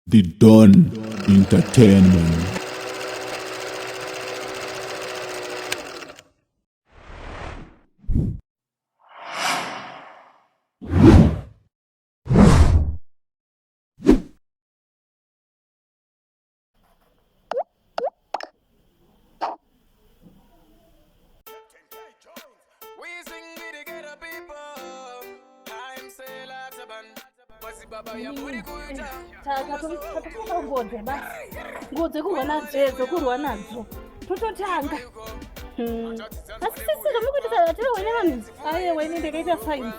The Don Entertainment. taakatongoze basi ngoze kurwa nadzo edzo kurwa nadzo tototanga hmm. asi sisika mukuitisa tiri wene vanhu ayewa ini ndakaita sainzi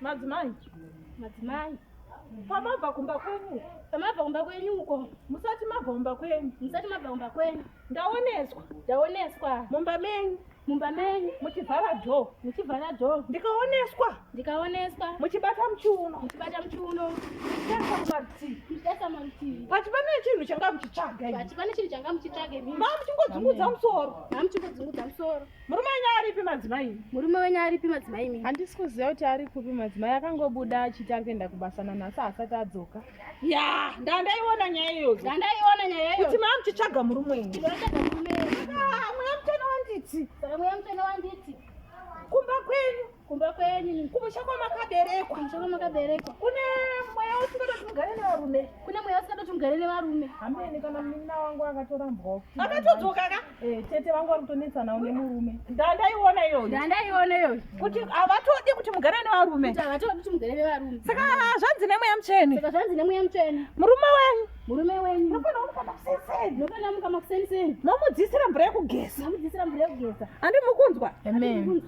Madzimai, madzimai, pamabva kumba kwenyu, pamabva kumba kwenyu uko, musati mabva kumba kwenyu, musati mabva kumba kwenyu, ndaoneswa, ndaoneswa mumba menyu mumba menyu muchivhara dho muchivhara dho ndikaoneswa ndikaoneswa muchibata muchiuno muchibata muchiuno pati pane chinhu changa muchitsvaga pati pane chinhu changa muchitsvaga mamuchingodzungudza musoro mamuchingodzungudza musoro Murume wenyu aripi madzimai? Murume wenyu aripi madzimai mimi? Handisi kuziva kuti ari kupi madzimai akangobuda achiti ari kuenda kubasa nanhasi haasati adzoka. Ya, ndandaiona nyaya iyoyo. Ndandaiona nyaya iyoyo. Kuti mwa muchitsvaga murume wenyu. Ndinotsvaga murume wenyu. Ah, mweya mutano wanditi. Saka mweya mutano wanditi. Kumba kwenyu. kumba kwenyu kumusha kwamakaberekwa kumusha kwamakaberekwa kune mweya usingatoti mugare nevarume kune mweya usingatoti mugare nevarume hameni kana munin'ina wangu akatorambwawo akatodzoka ka eh, tete vangu vari kutonetsanawo nemurume ndandaiona iyoyo ndandaiona iyoyo kuti havatodi kuti mugare nevarume kuti havatodi kuti mugare nevarume saka zvanzi nemweya mutsvene saka zvanzi nemweya mutsvene murume wenyu murume wenyu munofanira kumuka makuseni munofanira kumuka makuseni seni momudzisira mvura yekugeza momudzisira mvura yekugeza andi mukunzwa amen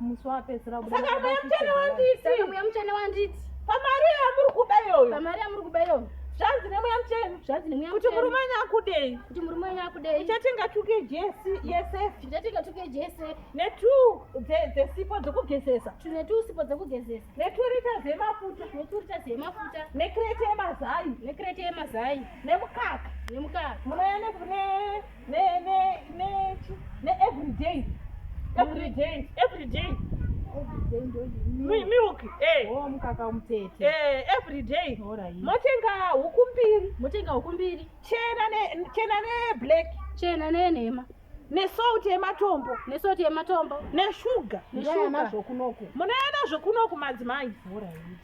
musi wapedzisira kubuda saka mbuya muchene wanditi saka mbuya muchene wanditi pamari yamuri kuba iyoyo pamari yamuri kuba iyoyo zvanzi nemweya muchenu zvanzi nemweya kuti murume wenyu akudei kuti murume wenyu akudei uchatenga tuke jesi yesf uchatenga tuke jese netu dzesipo dzekugezesa tune tu sipo dzekugezesa neturita zemafuta neturita zemafuta nekrete yemazai nekrete yemazai nemukaka nemukaka munouya ne ne ne ne every day every day every day milk eh oh mukaka umtete eh every day motenga huku mbiri motenga huku mbiri chena ne chena ne black chena ne nhema nesalt yematombo nesalt yematombo neshuga neshuga munayana zvokunoku madzimai vhura iyi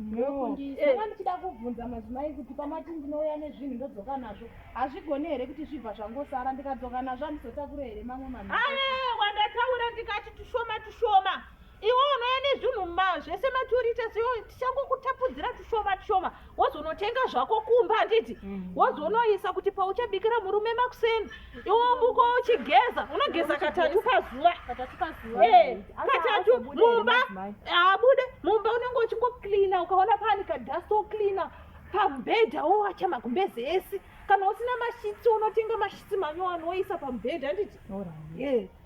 ndokundisa eh. ndichida kubvunza madzimai kuti pamati ndinouya nezvinhu ndodzoka nazvo hazvigone here kuti zvibva zvangosara ndikadzoka nazvo handizotakure here mamwe mama wandataura ndikati tushoma tushoma iwe unouya nezvinhu zvese maturita siyo tichangokutapudzira tushoma tushoma wozonotenga zvako kumba handiti mm. wozonoisa kuti pauchabikira murume makuseni iwo muko uchigeza unogeza katatu pazuva eh, katatu mumba abude mumba unenge uchingocleana ukaona pani kadust wocleana pamubhedha wowacha magumbezi ese kana usina mashitsi unotenga mashitsi manyowani woisa pamubhedha handiti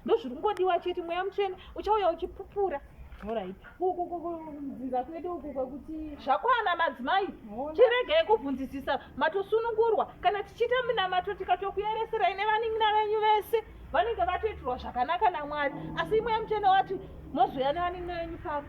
ndozviri kungodiwa chete mweya mutsvene uchauya uchipupura Alright. Uku kudzinza kwedu uku kwekuti zvakwana madzimai chiregei kubvunzisisa matosunungurwa kana tichiita minamato tikatokuyereserai nevanin'ina venyu vese vanenge vatoitirwa zvakanaka namwari asi imwe yemuchene wati mozouya nevanin'ina venyu pano